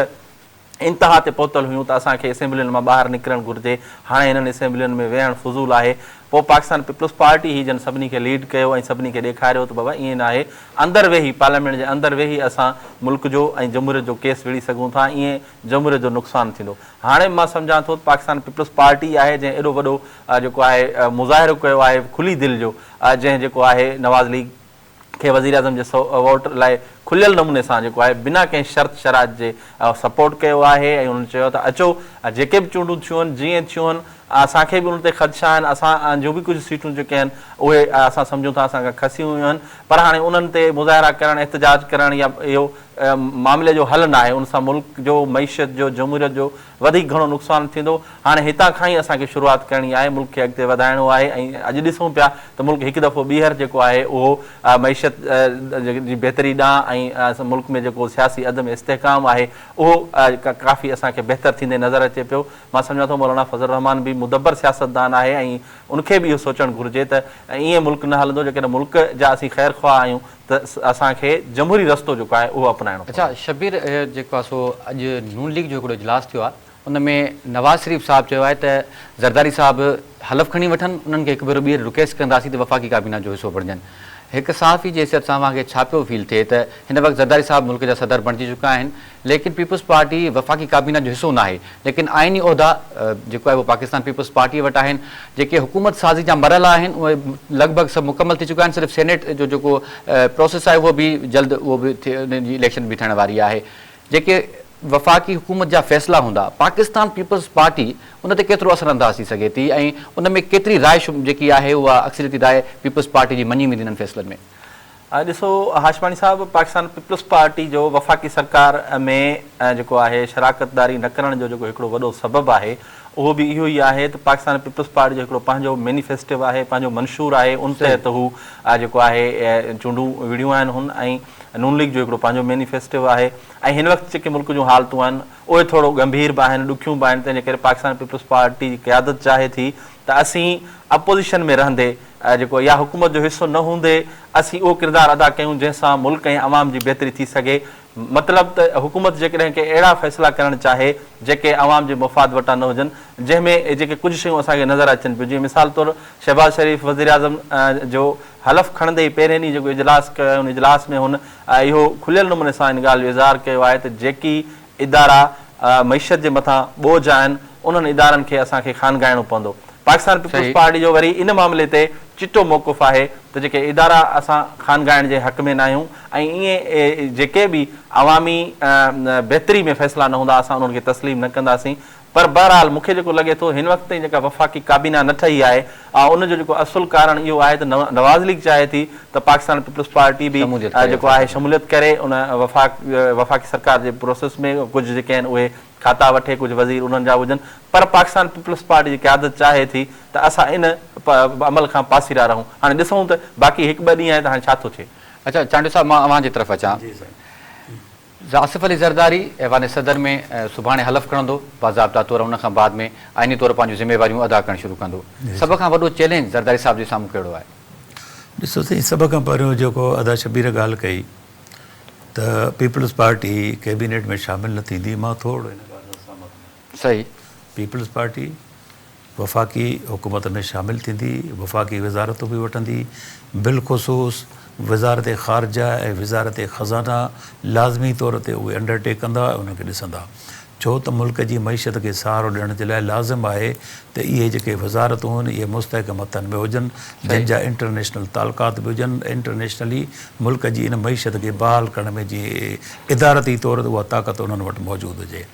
انتها تي پهتل هيون ته اسان کي اسيمبلين مان ٻاهر نڪرڻ گهرجي هاڻي هنن اسيمبلين ۾ ويهڻ فضول آهي پوء پاڪستان پيپلز پارٽي هي جن سڀني کي ليڊ ڪيو ۽ سڀني کي ڏيکاريو ته بابا ائين ناهي اندر ويهي پارليامينٽ جي اندر ويهي اسان ملڪ جو ۽ جمهوريت جو ڪيس وڙهي سگهون ٿا ائين جمهوريت جو نقصان ٿيندو هاڻي مان سمجهان ٿو ته پاڪستان پيپلز پارٽي آهي جنهن ايڏو وڏو جيڪو آهي مظاهرو ڪيو آهي کلي دل جو جنهن جيڪو آهي نواز ليگ کي وزيراعظم جي ووٽ لاء کليل نموني سان جيڪو آهي بنا ڪنهن شرط شرائط جي سپورٽ ڪيو آهي ۽ انهن چيو ته اچو جيڪي به چونڊون ٿيون جيئن ٿيون اسان کي به ان تي خدشا آهن اسان جون به ڪجهه سيٽون جيڪي آهن اهي اسان سمجهون ٿا اسان کان کسيون ويون آهن پر هاڻي انهن تي مظاهرا ڪرڻ احتجاج ڪرڻ يا اهو معاملي جو حل ناهي ان سان ملڪ جو معيشت جو جمهوريت جو وڌيڪ گهڻو نقصان ٿيندو، هاڻي هتان کان ئي اسان کي شروعات ڪرڻي آهي، ملڪ کي اڳتي وڌائڻو آهي ۽ اڄ ڏسون پيا ته ملڪ هڪ دفعو ٻيهر جيڪو آهي اهو معيشت جي بهتري ڏانهن ۽ ملڪ ۾ جيڪو سياسي عدم استحڪام آهي اهو ڪافي اسان کي بهتر ٿيندي نظر اچي پيو، مان سمجهان ٿو مولانا فضل الرحمان به مدبر سياستدان آهي ۽ ان کي به اهو سوچڻ گهرجي ته ائين ملڪ نه هلندو، جيڪڏهن ملڪ جا اسين خيرخواهه آهيون ته اسان کي جمهوري رستو جيڪو آهي اهو اپنائڻو پوندو. اچا شبير جيڪو آهي سو اڄ نون ليگ جو هڪڙو اجلاس ٿيو آهي ان ۾ نواز شريف صاحب چيو آهي ته زرداري صاحب حلف کڻي وٺن انهن کي هڪ ڀيرو ٻيهر رڪيسٽ ڪنداسين ته وفاقي ڪابينا جو حصو بڻجن هڪ صحافي جي حيثيت سان اوهان کي ڇا پيو فيل ٿئي ته هن وقت زرداري صاحب ملڪ جا صدر بڻجي چڪا آهن ليڪن پيپلز پارٽي وفاقي ڪابينا جو حصو ناهي ليڪن آئيني عهدا جيڪو آهي اهو پاڪستان پيپلز پارٽيء وٽ آهن جيڪي حڪومت سازي جا مرحلا آهن اهي لڳ ڀڳ سڀ مڪمل ٿي چڪا آهن صرف سينيٽ جو جيڪو پروسيس آهي اهو به جلد اهو به انهن جي اليڪشن به ٿيڻ واري آهي جيڪي وفاقي حڪومت جا فيصلا هوندا پاڪستان پيپلز پارٽي ان تي ڪيترو اثر انداز ٿي سگهي ٿي ۽ ان ۾ ڪيتري راء جيڪي آهي اها اڪثريتي راء پيپلز پارٽي جي مڃي ويندي انهن فيصلن ۾؟ ڏسو هاشماڻي صاحب پاڪستان پيپلز پارٽي جو وفاقي سرڪار ۾ جيڪو آهي شراڪتداري نه ڪرڻ جو جيڪو هڪڙو وڏو سبب آهي اهو به اهو ئي آهي ته پاڪستان پيپلز پارٽي جو هڪڙو پنهنجو مينيفيسٽو آهي پنهنجو منشور آهي ان تحت هو جيڪو آهي چونڊون وڙهيون آهن هن ۽ نون ليگ جو هڪڙو پنهنجو مينيفيسٽو آهي ۽ هن وقت جيڪي ملڪ جون حالتون آهن اهي ٿورو ڳنڀير به آهن ڏکيون به آهن تنهن جي ڪري پاڪستان پيپلز پارٽي جي قيادت چاهي ٿي ته اسين اپوزيشن ۾ رهندي جيڪو اها حڪومت جو حصو نه هوندي اسين اهو ڪردار ادا ڪيون جنهن سان ملڪ ۽ عوام جي بهتري ٿي سگهي مطلب ته حڪومت جيڪڏهن ڪي اهڙا فيصلا ڪرڻ چاهي جيڪي عوام جي مفاد وٽان نه هجن جنهن ۾ جيڪي ڪجهه شيون اسان کي نظر اچن پيون جيئن مثال طور شهباز شريف وزيراعظم جو حلف کڻندي ئي پهرين ڏينهن جيڪو اجلاس ڪيو ۽ ان اجلاس ۾ هن اهو کليل نموني سان ان ڳالهه جو اظهار ڪيو آهي ته جيڪي ادارا معيشت جي مٿان ٻوجهه آهن، انهن ادارن کي اسان کي خانگائڻو پوندو. پاڪستان پيپلز پارٽي جو وري ان معاملي تي چٽو موقف آهي ته جيڪي ادارا اسان خانگائڻ جي حق ۾ ناهيون ۽ اهي جيڪي به عوامي بهتري ۾ فيصلا نه هوندا اسان انهن کي تسليم نه ڪنداسين، پر بهرحال مون کي جيڪو لڳي ٿو هن وقت تائين جيڪا وفاقي ڪابينا نه ٺهي آهي آء ان جو جيڪو اصل ڪارڻ اهو آهي ته نواز ليگ چاهي ٿي ته پاڪستان پيپلز پارٽي به جيڪو آهي شموليت ڪري ان وفاق وفاقي سرڪار جي پروسيس ۾ ڪجهه جيڪي آهن اهي کاتا وٺي ڪجهه وزير انهن جا هجن پر پاڪستان پيپلز پارٽي جي قيادت چاهي ٿي ته اسان ان عمل کان پاسيرا رهون هاڻي ڏسون ته باقي هڪ ٻه ڏينهن آهي ته هاڻي ڇا ٿو ٿئي. اچا چانڊيو صاحب مان اوهان جي طرف اچان. جا آصف علي زرداري ايوان صدر ۾ سڀاڻي حلف کڻندو، باضابطا طور ان کان بعد ۾ آئيني طور پنهنجون ذميواريون ادا ڪرڻ شروع ڪندو. سڀ کان وڏو چئلينج زرداري صاحب جي سامهون ڪهڙو آهي؟ ڏسو سائين سڀ کان پهريون جيڪو ادا شبير ڳالهه ڪئي ته پيپلز پارٽي ڪيبينيٽ ۾ شامل نه ٿيندي مان ٿورڙو ان ڳالهه سان سهمت آهيان. صحيح. پيپلز پارٽي وفاقي حڪومت ۾ شامل ٿيندي، وفاقي وزارتون به وٺندي، بالخصوص وزارت خارجه ۽ وزارت خزانه لازمي طور تي اهي انڊر ٽيڪ ڪندا ۽ انهن کي ڏسندا، ڇو ته ملڪ جي معيشت کي سهارو ڏيڻ جي لاء لازم آهي ته اهي جيڪي وزارتون هن اهي مستحڪم هٿن ۾ هجن، جن جا انٽرنيشنل تعلقات به هجن، انٽرنيشنلي ملڪ جي ان معيشت کي بحال ڪرڻ ۾ جيئن ادارتي طور تي اها طاقت انهن وٽ موجود هجي.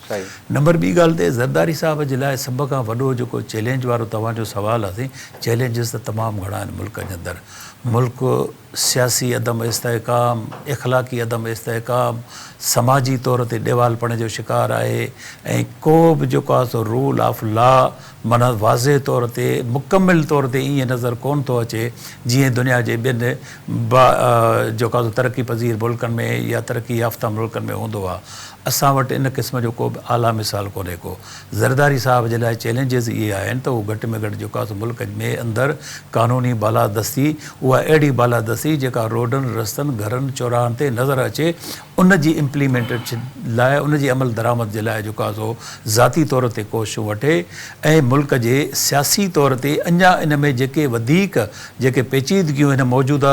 نمبر ٻي ڳالهه ته زرداري صاحب جي لاء سڀ کان وڏو جيڪو چئلينج وارو توهان جو سوال آهي سائين چئلينجز ته تمام گهڻا آهن ملڪ جي اندر ملڪ سياسي عدم استحڪام اخلاقي عدم استحڪام سماجي طور تي ڏيوالپڻي جو شڪار آهي ۽ ڪو به جيڪو آهي سو رول آف لا معنيٰ واضح طور تي مڪمل طور تي ائين نظر ڪون ٿو اچي جيئن دنيا جي ٻين با جيڪو آهي سو ترقي پذير ملڪن ۾ يا ترقي يافته ملڪن ۾ هوندو آهي اسان وٽ ان قسم جو ڪو به اعليٰ مثال ڪونهي ڪو. زرداري صاحب جي لاء چئلينجز اهي آهن ته هو گهٽ ۾ گهٽ جيڪاس ملڪ ۾ اندر قانوني بالادستي اها اهڙي بالادستي جيڪا روڊن، رستن، گهرن، چوراهن تي نظر اچي ان جي امپليمينٽيشن لاء ان جي عمل درآمد جي لاء جيڪاسو ذاتي طور تي ڪوششون وٺي ۽ ملڪ جي سياسي طور تي اڃا ان ۾ جيڪي وڌيڪ جيڪي پيچيدگيون هن موجوده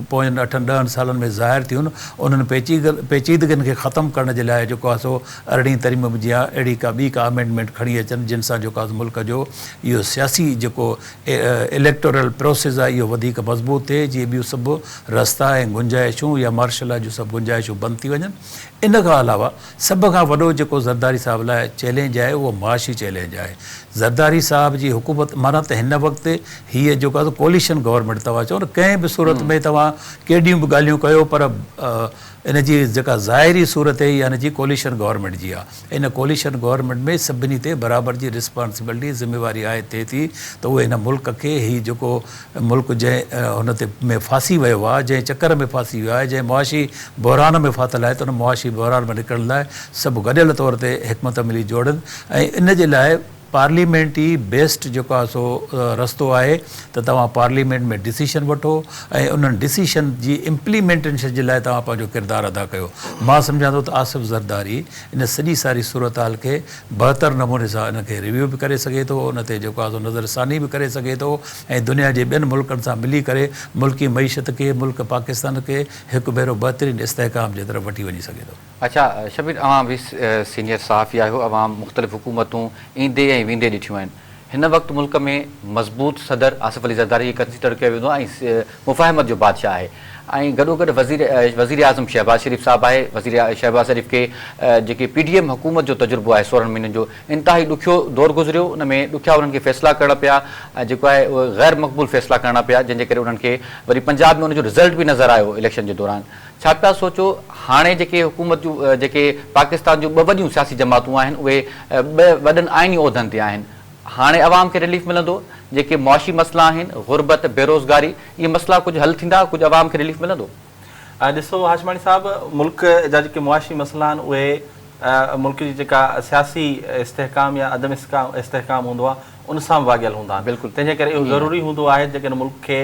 پوين اٺن ڏهن سالن ۾ ظاهر ٿيون، انهن پيچيدگين کي ختم ڪرڻ جي لاء جيڪو آهي سو ارڙهين ترميم جيان اهڙي ڪا ٻي ڪا امينڊمينٽ کڻي اچن جن سان جيڪو آهي ملڪ جو اهو سياسي جيڪو اليڪٽورل پروسيس آهي اهو وڌيڪ مضبوط ٿئي جيئن ٻيون سڀ رستا ۽ گنجائشون يا مارشلا جون سڀ گنجائشون بند ٿي وڃن ان کان علاوه سڀ کان وڏو جيڪو زرداري صاحب لاء چئلينج آهي اهو معاشي چئلينج آهي. زرداري صاحب جي حڪومت معنيٰ ته هن وقت هيء جيڪو آهي سو ڪوئليشن گورنمينٽ توهان چئو نه ڪنهن به صورت ۾ توهان ڪيڏيون به ڳالهيون ڪيو پر ان جي جيڪا ظاهري صورت هي اها ان جي ڪوئليشن گورنمينٽ جي آهي. ان ڪوئليشن گورنمينٽ ۾ سڀني تي برابر جي رسپانسبلٽي، ذميواري عائد ٿئي ٿي ته اهي هن ملڪ کي هي جيڪو ملڪ جنهن هن تي ۾ ڦاسي ويو آهي، جنهن چڪر ۾ ڦاسي ويو آهي، جنهن معاشي بحران ۾ ڦاٿل آهي ته ان معاشي بحران مان نڪرڻ لاء سڀ گڏيل طور تي حڪمت عملي جوڙن ۽ ان جي لاء پارليمينٽ ئي بيسٽ جيڪو آهي سو رستو آهي ته توهان پارليمينٽ ۾ ڊسيشن وٺو ۽ انهن ڊسيشن جي امپليمينٽيشن جي لاء توهان پنهنجو ڪردار ادا ڪيو. مان سمجهان ٿو ته آصف زرداري ان سڄي ساري صورتحال کي بهتر نموني سان ان کي ريويو به ڪري سگهي ٿو ان تي جيڪو آهي سو نظر ثاني به ڪري سگهي ٿو ۽ دنيا جي ٻين ملڪن سان ملي ڪري ملڪي معيشت کي ملڪ پاڪستان کي هڪ ڀيرو بهترين استحڪام جي طرف وٺي وڃي سگهي ٿو. اچا شبير اوهان به سينيئر صحافي آهيو اوهان مختلف حڪومتون ايندي ۽ ويندي ڏٺيون آهن هن وقت ملڪ ۾ مضبوط صدر آصف علي زرداري کي ڪنسيڊر ڪيو ويندو آهي ۽ مفاهمت جو بادشاهه آهي ۽ گڏوگڏ وزير وزيراعظم شهباز شريف صاحب آهي، وزير شهباز شريف کي جيڪي پي ڊي ايم حڪومت جو تجربو آهي سورهن مهينن جو انتهائي ڏکيو دور گذريو ان ۾ ڏکيا انهن کي فيصلا ڪرڻا پيا ۽ جيڪو آهي اهي غيرمقبول فيصلا ڪرڻا پيا جنهن جي ڪري انهن کي وري پنجاب ۾ ان جو رزلٽ به نظر آيو اليڪشن جي دوران ڇا پيا سوچو؟ هاڻي جيڪي حڪومت جون جيڪي پاڪستان جون ٻه وڏيون سياسي جماعتون آهن اهي ٻه وڏن آئيني عهدن تي آهن. هاڻي عوام کي رليف ملندو؟ جيڪي معاشي مسئلا آهن، غربت، بيروزگاري، اهي مسئلا ڪجهه حل ٿيندا؟ ڪجهه عوام کي رليف ملندو؟ ڏسو هاشماڻي صاحب ملڪ جا جيڪي معاشي مسئلا آهن اهي ملڪ جي جيڪا سياسي استحڪام يا عدم استحڪام هوندو آهي ان سان به واڳيل هوندا آهن تنهن جي ڪري اهو ضروري هوندو آهي جيڪڏهن ملڪ کي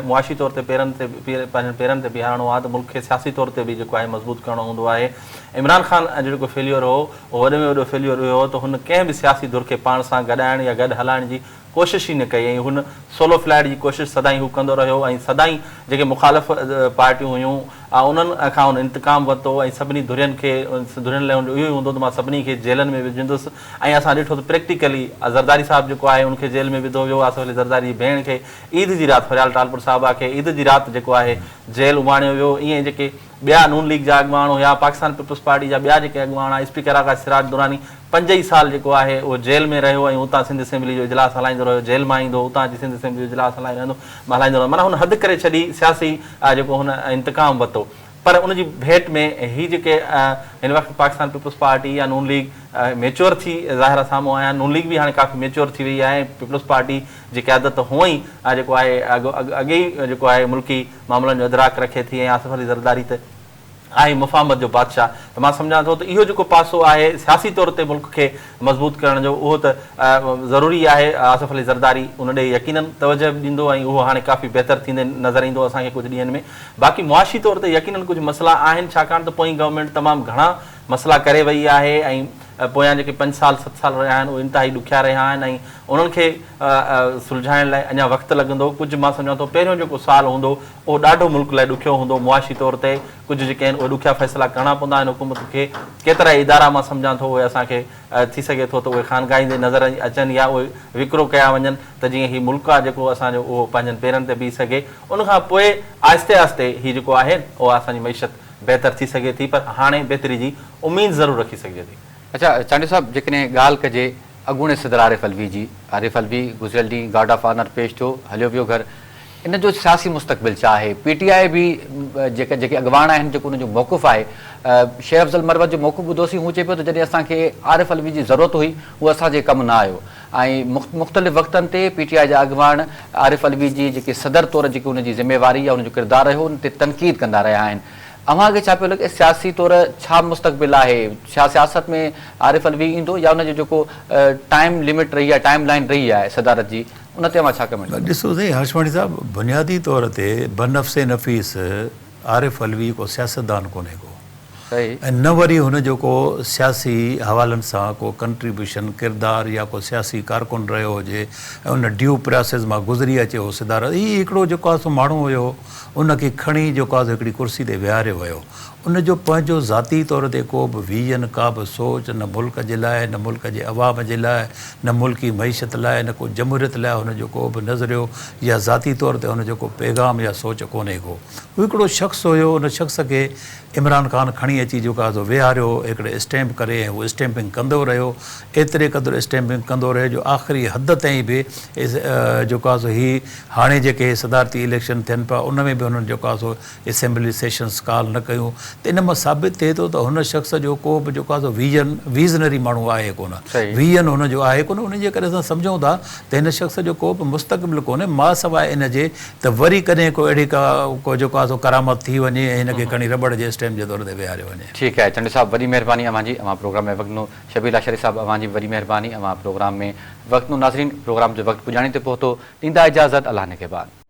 معاشي طور تي پيرن تي پنهنجن پيرن تي بيهارڻو آهي ته ملڪ کي سياسي طور تي به جيڪو آهي مضبوط ڪرڻو هوندو آهي عمران خان جو جيڪو فيليور هو اهو وڏي ۾ وڏو فيليور اهو هو ته هن ڪنهن به سياسي ڌر کي پاڻ سان گڏائڻ يا گڏ هلائڻ جي ڪوشش ئي نه ڪئي ۽ هن سولو فلائيٽ جي ڪوشش سدائين هو ڪندو رهيو ۽ سدائين جيڪي مخالف پارٽيون هيون انهن کان هن انتقام ورتو ۽ سڀني ڌرين کي ڌرين لاء هن جو اهو ئي هوندو هو ته مان سڀني کي جيلن ۾ وجهندس ۽ اسان ڏٺو ته پريڪٽيڪلي زرداري صاحب جيڪو آهي ان کي جيل ۾ وڌو ويو آصف علي زرداري جي ڀيڻ کي عيد جي رات فريال ٽالپر صاحبه کي عيد جي رات جيڪو آهي جيل اماڻيو ويو ائين جيڪي ٻيا نون ليگ جا اڳواڻ هيا پاڪستان پيپلز پارٽي جا ٻيا جيڪي اڳواڻ آهي اسپيڪر آغا سراج دراني پنج ئي سال جيڪو آهي اهو جيل ۾ رهيو ۽ اتان سنڌ اسيمبلي جو اجلاس هلائيندو رهيو جيل مان ايندو اتان اچي سنڌ اسيمبلي جو اجلاس هلائي رهندو هلائيندو رهندو معنيٰ هن حد ڪري ڇڏي سياسي جيڪو هن انتقام وتو پر ان جي ڀيٽ ۾ هي جيڪي هن وقت پاڪستان پيپلز پارٽي يا نون ليگ ميچوئر ٿي ظاهرا سامهون آيا نون ليگ به هاڻي ڪافي ميچوئر ٿي وئي آهي ۽ پيپلز پارٽي جي قيادت هونء ئي جيڪو آهي اڳي ئي جيڪو آهي ملڪي معاملن جو ادراڪ رکي ٿي ۽ آصف علي زرداري ته آهي مفاهمت جو بادشاهه ته مان سمجهان ٿو ته اهو جيڪو پاسو آهي سياسي طور تي ملڪ کي مضبوط ڪرڻ جو اهو ته ضروري آهي آصف علي زرداري ان ڏي يقينن توجهه به ڏيندو ۽ اهو هاڻي ڪافي بهتر ٿيندي نظر ايندو اسان کي ڪجهه ڏينهن ۾ باقي معاشي طور ته يقينن ڪجهه مسئلا آهن ڇاڪاڻ ته پوئين گورنمينٽ تمام گهڻا مسئلا ڪري وئي آهي ۽ پويان جيڪي پنج سال ست سال رهيا آهن اهي انتهائي ڏکيا رهيا آهن ۽ انهن کي سلجهائڻ لاء اڃا وقت لڳندو ڪجهه مان سمجهان ٿو پهريون جيڪو سال هوندو اهو ڏاڍو ملڪ لاء ڏکيو هوندو معاشي طور تي ڪجهه جيڪي آهن اهي ڏکيا فيصلا ڪرڻا پوندا آهن حڪومت کي ڪيترائي ادارا مان سمجهان ٿو اهي اسان کي ٿي سگهي ٿو ته اهي خانگاهيندي نظر اچن يا اهي وڪرو ڪيا وڃن ته جيئن هي ملڪ آهي جيڪو اسان جو اهو پنهنجن پيرن تي بيهي سگهي ان کان پوء آهستي آهستي هي جيڪو آهي اها اسان جي معيشت بهتر ٿي سگهي ٿي پر هاڻي بهتري جي اميد ضرور رکي سگهجي ٿي. اچا چانڊيو صاحب جيڪڏهن ڳالهه ڪجي اڳوڻي صدر عارف علوي جي، عارف علوي گذريل ڏينهن گارڊ آف آنر پيش ٿيو هليو ويو گهر، ان جو سياسي مستقبل ڇا آهي؟ پي ٽي آء به جيڪا جيڪي اڳواڻ آهن جيڪو انهن جو موقف آهي شير افضل مروت جو موقف ٻڌوسين هو چئي پيو ته جڏهن اسان کي عارف علوي جي ضرورت هئي هو اسان جي ڪم نه آيو. ۽ مختلف وقتن تي پي ٽي آء جا اڳواڻ عارف علوي جي جيڪي صدر طور جيڪي ان جي ذميواري يا ان جو ڪردار رهيو ان تي تنقيد ڪندا رهيا آهن اوهان کي ڇا پيو لڳي سياسي طور ڇا مستقبل آهي ڇا سياست ۾ عارف علوي ايندو يا ان جو جيڪو ٽائيم لمٽ رهي آهي ٽائيم لائين رهي آهي صدارت جي ان تي اوهان ڇا ڪمينٽ ڪندا. ڏسو سائين هرشمڻي صاحب بنيادي طور تي بنفس نفيس عارف علوي ڪو سياستدان ڪونهي ڪو ۽ نه وري هن جو ڪو سياسي حوالن سان ڪو ڪنٽريبيوشن ڪردار يا ڪو سياسي ڪارڪن رهيو هجي ۽ ان ڊيو پراسيز مان گذري اچي هو صدارت هي هڪڙو جيڪو آهي سو ماڻهو هيو ان کي کڻي جيڪو آهي سو هڪڙي ڪرسي تي ويهاريو ويو ان جو پنهنجو ذاتي طور تي ڪو به ويزن ڪا به سوچ نه ملڪ جي لاء نه ملڪ جي عوام جي لاء نه ملڪي معيشت لاء نه ڪو جمهوريت لاء هن جو ڪو به نظريو يا ذاتي طور تي هن جو ڪو پيغام يا سوچ ڪونهي ڪو. هو هڪڙو شخص هيو، ان شخص کي عمران خان کڻي اچي جيڪو آهي سو ويهاريو هڪڙي اسٽيمپ ڪري ۽ هو اسٽيمپنگ ڪندو رهيو، ايتري قدر اسٽيمپنگ ڪندو رهيو جو آخري حد تائين به جيڪو آهي سو هي هاڻي جيڪي صدارتي اليڪشن ٿين پيا ان ۾ به هنن جيڪو آهي سو اسيمبلي سيشنز ڪال نه ڪيون ته ان مان ثابت ٿئي ٿو ته هن شخص جو ڪو به جيڪو آهي سو ويزن ويزنري ماڻهو آهي ڪونه ويزن هن جو آهي ڪونه انهي جي ڪري اسان سمجهون ٿا ته هن شخص جو ڪو به مستقبل ڪونهي ما سواء ان جي ته وري ڪڏهن ڪو اهڙي ڪا ڪو جيڪو آهي سو ڪرامت ٿي وڃي ۽ هن کي کڻي رٻڙ جي اسٽيم جي طور تي ويهاريو وڃي. ٺيڪ آهي چنڊ صاحب وڏي مهرباني اوهان جي اوهان پروگرام ۾ وقت ڏنو شبير لاشاري صاحب اوهان جي به وڏي مهرباني اوهان پروگرام ۾ وقت ڏنو ناظرين پروگرام جو وقت پڄاڻي تي پهتو ڏيندا اجازت الله نگهبان.